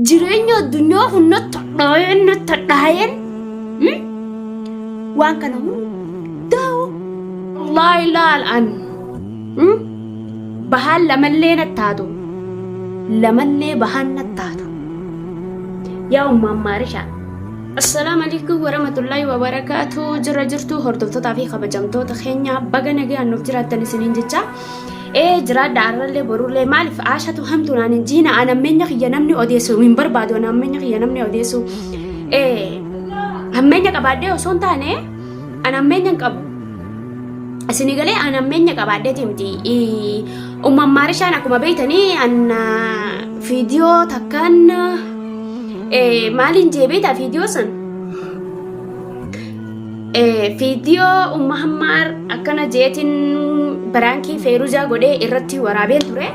jireenya addunyaa kun natti hadhaa'een natti hadhaa'een mm, waan kana hundaa'u Allah ilaal an mm, bahaan lamallee natti haatu lamallee bahaan natti haatu yaa ummaan maarishaa Assalaamu alaikum warahmatullahi wabarakatuh jirra jirtu hordoftoota fi kabajamtoota keenya baga nagaan nuuf jiraattan isiniin jecha ee jiraadha arrallee borullee maaliif aashatu hamtu naan hin jiina an ammeenya kiyya namni odeessu hin barbaadu an ammeenya kiyya namni odeessu ee ammeenya qabaadhee osoo hin taane an ammeenya hin qabu isinii galee an ammeenya qabaadheeti miti umman maarishaan akkuma beeytanii an fiidiyoo takkaan maaliin jee beeytaa fiidiyoo san Fiidiyoo Umma Hammaar akkana jeetiin biraankii feeruzaa godhee irratti waraabeen ture.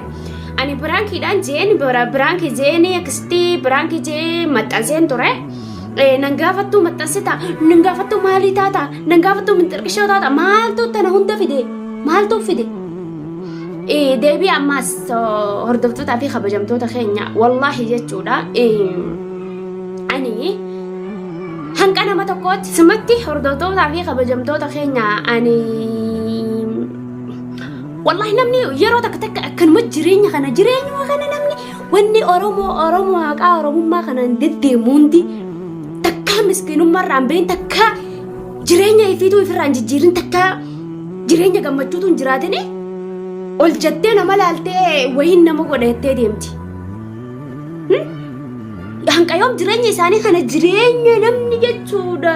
Ani biraankiidhaan jeen biraankii jeenii akkasitti biraankii jee maxxanseen ture. Nan gaafattuu maxxansita, nan gaafattuu maalii taata, nan gaafattuu minxirqishoo taata, maaltu tana hunda fide, maaltu fide. Deebii ammaas hordoftootaa fi kabajamtoota keenya wallaahi jechuudha. Ani Hanqa nama tokkootti simatti hordoftootaa fi kabajamtoota keenya ani wallahi namni yeroo takka takka akkanuma jireenya kana jireenyuma kana namni wanni Oromoo Oromoo haqaa Oromummaa kanaan deddeemu hundi takkaa miskiinummaa irraan bahin takkaa jireenya ifiituu ifirraan jijjiirin takkaa jireenya gammachuutu hin jiraatini ol jettee nama laaltee wayiin nama godha jettee deemti. Hanqayoom jireenya isaanii kana jireenya namni jechuudha.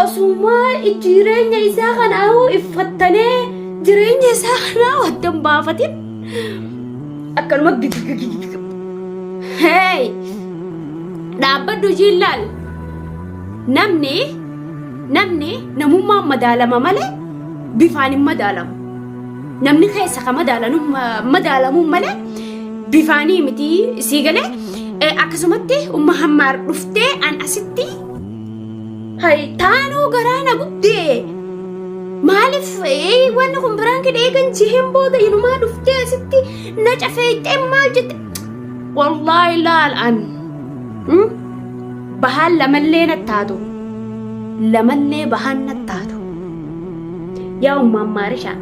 Osumaa jireenya isaa kana iffattanee jireenya isaa kana waddan baafatin akkanuma gigigigigig. Hey! Dhaabbadhu ishii ilaali. Namni namni namummaan madaalama malee bifaan hin madaalamu. Namni keessa ka madaalanu madaalamuun malee bifaanii miti sii galee Eh, akkasumatti umma hammaar dhuftee an asitti hay taanoo garaa na gubdee maaliif eh, wanni kun biraan kidha eegan jiheen booda inumaa dhuftee asitti na cafeeyxee maal jette wallaahi laal an mm, bahaan lamallee na taatu lamallee bahaan na taatu Yaa umma ammaarisha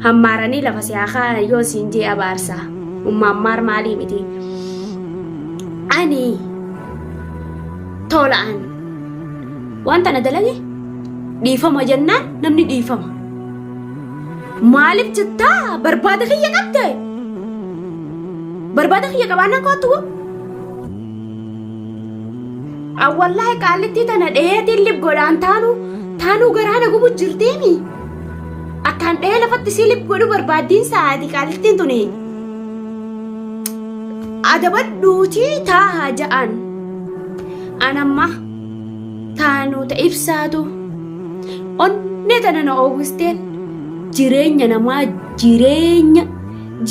hammaaranii lafa si haa kaa'an yoo siin jee abaarsa umma ammaar maalii miti ani tola'an wanta na dalage dhiifama jennaan namni dhiifama maaliif jettaa barbaada kiyya qabde barbaada kiyya qabaannaan koottu An wallahi qaallittii tana dheetiin lib godhaan taanuu taanuu garaa na gubu jirteemi. Akkaan dhee lafatti sii lib godhu barbaaddiin sa'aati qaallittiin tuni. Adabadhuuti taaha ja'an. An amma taanuu ta ibsaatu onnee tana na oowwisteen jireenya namaa jireenya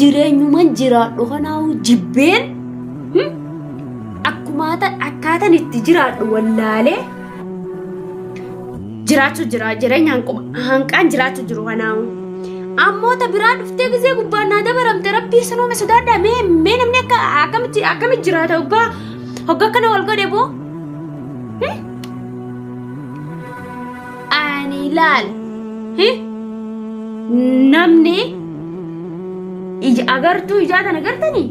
jireenyuman jiraadhu kanaahu jibbeen. Hmm? akkumaata akkaatan itti jiraadhu wallaalee jiraachuu jira jireenya hanquma- hanqaan jiraachuu jiru kanaamu ammoota biraa dhuftee gizee gubbaan naa dabaramte rabbii sanoome sodaadha mee mee namni akka akkamitti akkamitti jiraata hoggaa hogga akkana wal godhe boo Hmm? ani laal Hmm? namni ija agartuu ijaa tana gartanii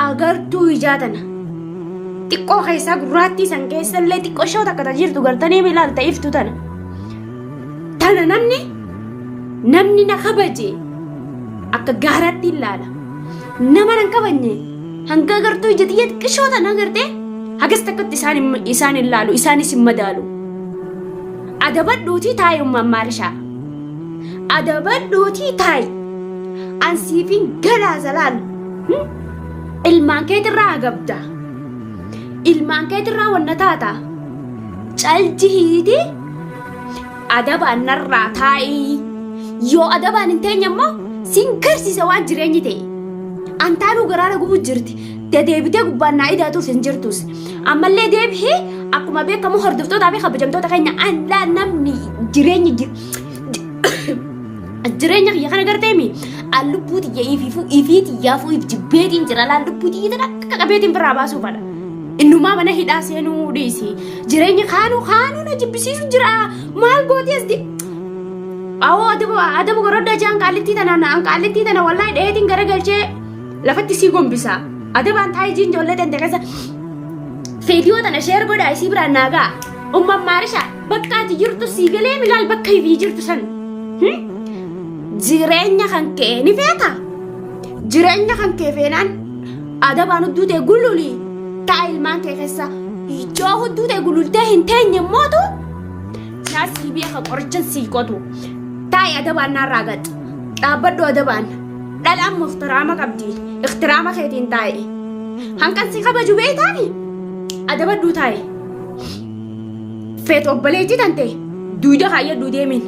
agartuu ijaa tana xiqqoo keessaa gurraattii san keessa illee xiqqoo shoo takka ta jirtu gartanii mi ilaalta iftu tana tana namni namni na kabaje akka gaaraatti ilaala nama nan kabajne hanga agartuu ija xiyya xiqqishoo tana agartee hagas takkatti isaan hin- isaan hin laalu isaanis hin madaalu adabadhuutii taayi ummaan maarishaa adabadhuutii taayi ansiifin galaa zalaal Ilmaan keetirraa agabda. Ilmaan keetirraa wanna taata. Caljihiiti adabaan narraa taa'ii. Yoo adabaan hin teenye immoo sin garsiisa waan jireenyi ta'e. Antaanuu garaara gubu jirti. Dadeebitee gubbaan naa idaatus hin jirtus. Ammallee deebihi akkuma beekamu hordoftootaa fi kabajamtoota keenya anlaa namni jireenyi Jireenya kiyya kana garteemi an lubbuu tiyya ifiifuu ifii tiyyaafuu if jibbeetiin jira laal lubbuu tiyya tana akka qabeetiin biraa baasuu fadha. Innumaa mana hidhaa seenuu dhiisi. Jireenya kaanuu kaanuu na jibbisiisu jira maal gooti as di. Awoo adabu adabu goroddaa jaan qaallittii tana na an qaallittii tana wallahi dheetiin garagalchee lafatti sii gombisaa. Adabaan taa'ee jiin ijoollee tante keessa. Feediyoo tana sheer godhaa isii biraan naa ga'a. Umman maarishaa bakka ati jirtu sii galee milaal bakka ifii jirtu san. Hmm? Jireenya kan kee ni feeta. Jireenya kan kee feenaan adabaan hudduu tee gululi taa ilmaan kee keessa yoo hudduu tee gulultee hin teenye mootu naa sii beeka qorichan sii qotu taa'i adabaan naarraa gad dhaabbadhu adabaan dhalaan muftiraama qabdi iktiraama keetiin taa'i hankan si kabaju beeytaani adabadhuu taa'i. feet obboleetti tante duyda kaayyadhu deemiin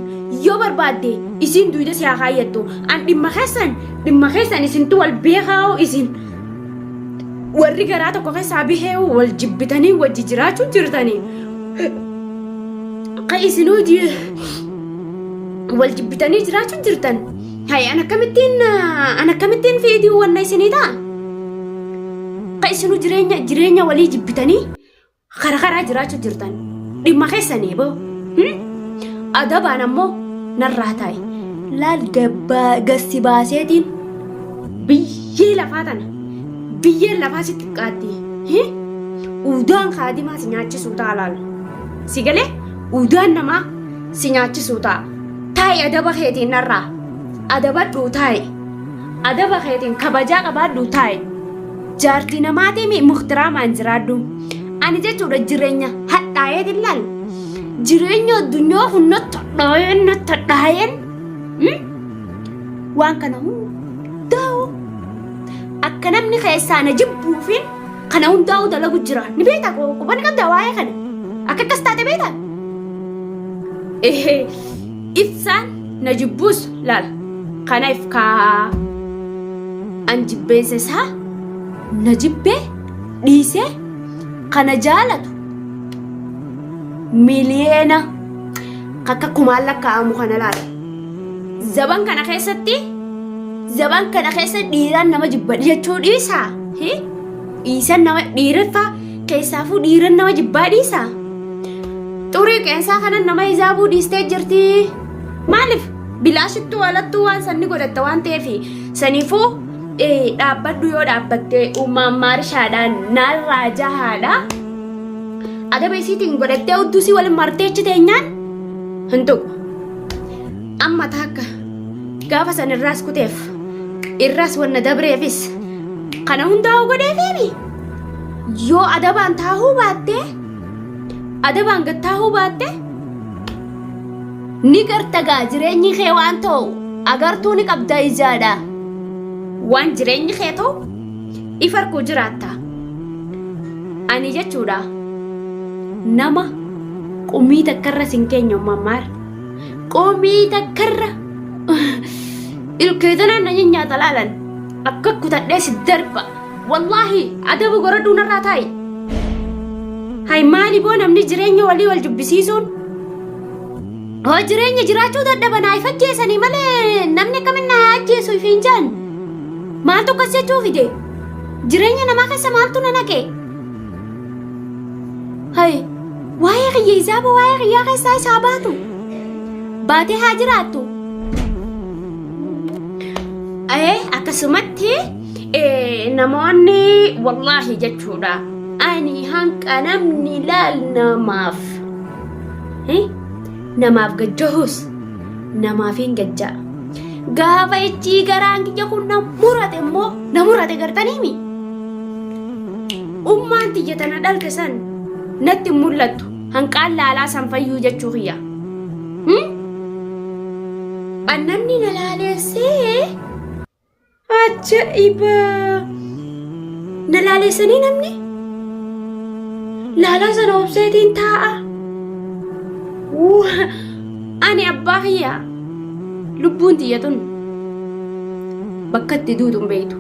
yoo barbaadde isiin duyda si haa kaayyattu an dhimma keessan dhimma keessan isintu wal beekaa'u isin warri garaa tokko keessaa bihee wal jibbitanii wajji jiraachuu jirtanii ka isinuu ji- wal jibbitanii jiraachuu jirtan hay an akkamittiin ah, an akkamittiin feetii wanna isinii ta'a ka isinuu jireenya jireenya walii jibbitanii Kara karaa jiraachuu jirtan dhimma keessanii boo. Hmm? Adabaan ammoo narraa taa'e. Laal gabbaa gassi baaseetiin biyyee lafaa tana. Biyyeen lafaa si xiqqaatti. Hi? Udaan kaadimaa si nyaachisuu ta'a laal. Si galee udaan namaa si nyaachisuu ta'a. Taa'i adaba keetiin narraa. Adabadhuu taa'i. Adaba keetiin kabajaa qabaadhuu taa'i. Jaartii namaatii mi muhtiraamaan jiraadhu. Ani jechuudha jireenya hadhaa'een hin laalu. Jireenya addunyaa kun natti hadhaa'een natti hadhaa'een mm, waan kana hundaa'u akka namni keessaa na jibbuufiin kana hundaa'u dalagu jira. Ni beektaa koo quba ni qabdaa waa'ee kana. Akka akkas taate beektaa? Ehee ibsaan na jibbuus laal kana if kaahaa an jibbeensa isaa na jibbee dhiisee kana jaalatu miliyeena akka kumaan lakkaa'amu kana laala. Zaban kana keessatti zaban kana keessa dhiiraan nama jibba jechuu dhiisaa dhiisan nama dhiireffaa Keessaafuu dhiiran nama jibbaa dhiisa. Xurii qeensaa kanan nama hijaabuu dhiistee jirti. Maaliif bilaashittuu alattuu waan sanni godhatta waan ta'eef saniifuu dhaabbadhu yoo dhaabbattee uumaan maarishaadhaan naarraa jahaadha. Adaba isiitiin godhattee udduu isii waliin martee achi teenyaan hin tuqu. Amma taakka gaafa san irraas kuteef irraas wanna dabreefis kana hundaa'u godheefiimi. Yoo adabaan taahuu baattee adabaan gad taahuu baattee ni garta gaa jireenyi kee waan ta'u agartuu ni qabda ijaadha. Waan jireenyi kee ta'u if arguu jiraatta. Ani jechuudha nama qumii takkarra sin keenya ummaan maar qumii takkarra ilkeetanaan na nyaata laalan akka kutadhee si darba. Wallaahi adaba goradhuu narraa taa'i. Hay maali boo namni jireenya walii wal jibbisiisuun hoo jireenya jiraachuu dadhaban hay fakkeessanii malee namni akkamin na haa ajjeesu ifi hin jaan maaltu akkas jechuu fide jireenya namaa keessa maaltu na naqe hay waa'ee kiyya isaa boo waa'ee kiyyaa keessaa isaa baatu baatee haa jiraattu. Ee akkasumatti Eh, namoonni wallaahi jechuudha ani hanqa namni laal namaaf eh, namaaf gajjahus namaaf hin gajja gaafa ichii garaan kiyya kun na murate immoo na murate gartaniimi ummaan tiyya tana dhalte san natti hin mul'attu hanqaan laalaa san fayyuu jechuu kiyya hmm? annamni na laaleessee Ajaa'iba! Na laaleessanii namni laalaa sana obseetiin taa'a. Waa! Ani abbaa kiyyaa lubbuun tiyya tun bakka itti duutu hin beektu.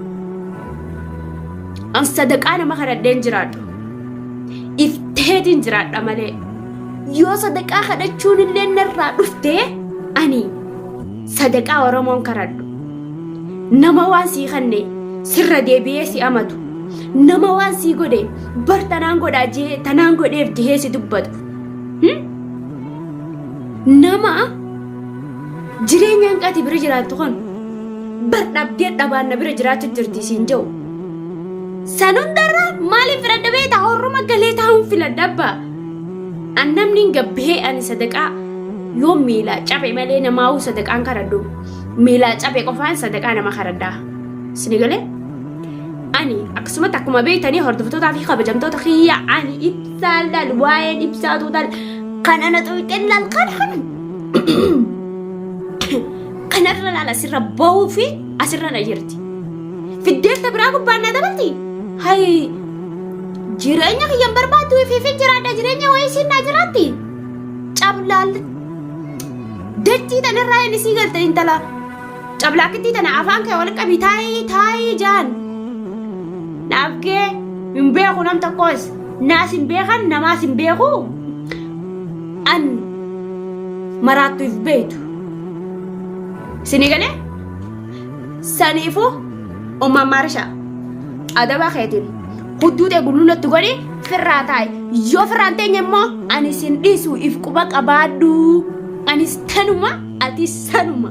An sadaqaa nama kadhadheen jiraadhu. Ifteetiin jiraadha malee. Yoo sadaqaa kadhachuun illee narraa dhuftee ani Sadaqaa Oromoon karadhu. Nama waan sii kanne sirra deebi'ee si amatu. Nama waan sii godhe bar tanaan godhaa jee tanaan godheef jehee si dubbatu. Hmm? Nama jireenya hanqati bira jiraattu kun bar dhabdee dhabaan na bira jiraachu jirti siin jehu. San hundarra maaliin filadha beektaa? Horruma galee taa'uun filadha abbaa. An namni gabbihee ani sadaqaa yoo miilaa cabe malee namaa'uu sadaqaan karadhu miilaa cabe qofaan sadaqaa nama karadhaa. Sini galee? Ani akkasumatti akkuma beektanii hordoftoota fi kabajamtoota kiyya ani ibsaa laal waa'een ibsaa tuutal kan ana xuyxeen laal kan kan kanarra laal asirra bahuu fi asirra na jirti. Fiddeen ta biraa gubbaan naa dabalti? Hay! Jireenya kiyya hin barbaaddu ifiifin jiraadha jireenya wayii isiin naa jiraatti? Cablaal dachii tanarraa hin isii galte intala cablaakkittii tana afaan kee wal qabi taayii taayii jaan. Naaf gee hin beeku nam tokkoos naas hin beekan namaas hin beeku an maraattu if beeytu. Sini galee? Saniifuu ummaan maarishaa adabaa keetiin hudduu ta'e gullullatti godhi firraa taa'i. Yoo firraan teenye immoo ani isin dhiisu if quba qabaadhu. Anis tanuma ati sanuma.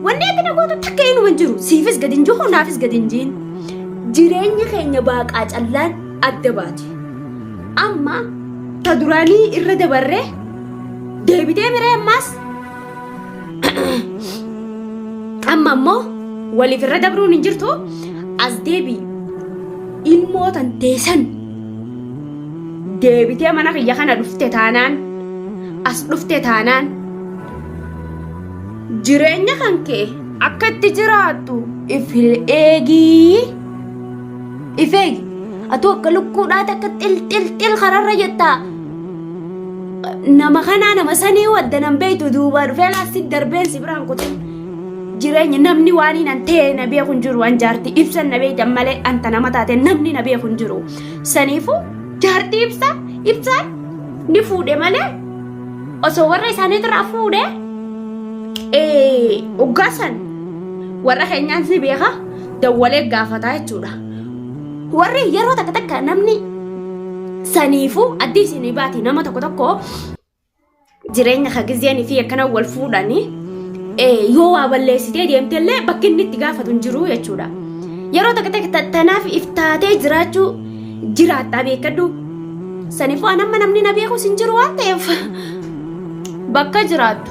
Wanni ati na gootu takka inuma hin jiru. Siifis gadi hin jiru naafis gadi hin jiru. Jireenya keenya baaqaa callaan adda baate. Amma ta duraanii irra dabarree deebitee miree ammaas Amma ammoo waliif irra dabruun hin jirtu as deebii ilmoo tan teessan deebitee mana kiyya kana dhufte taanaan as dhufte taanaan jireenya kan kee akka itti jiraattu if eegii if eegi atuu akka lukkuudhaati akka xil xil xil kararra jettaa nama kanaa nama sanii wadda nan beeytu duubaa dhufee laastik darbeen si biraan kute jireenya namni waan hin antee na beeku hin jiru an jaartii ibsan na beeytan malee anta nama taate namni na beeku hin jiru saniifu jaartii ibsa ibsaan ni fuudhe malee osoo warra isaaniitirraa fuudhe uggaasan warra keenyaan si beeka dawwalee gaafataa jechuudha. Warri yeroo takka takka namni saniifuu addii isinii baati nama tokko tokko jireenya ka gizeen fi akkana wal fuudhani yoo waa balleessitee deemte illee bakki inni itti gaafatu hin jiru jechuudha. Yeroo takka takka tanaaf if taatee jiraachuu jiraattaa beekadhu. Saniifuu an amma namni na beekus hin jiru waan ta'eef bakka jiraattu.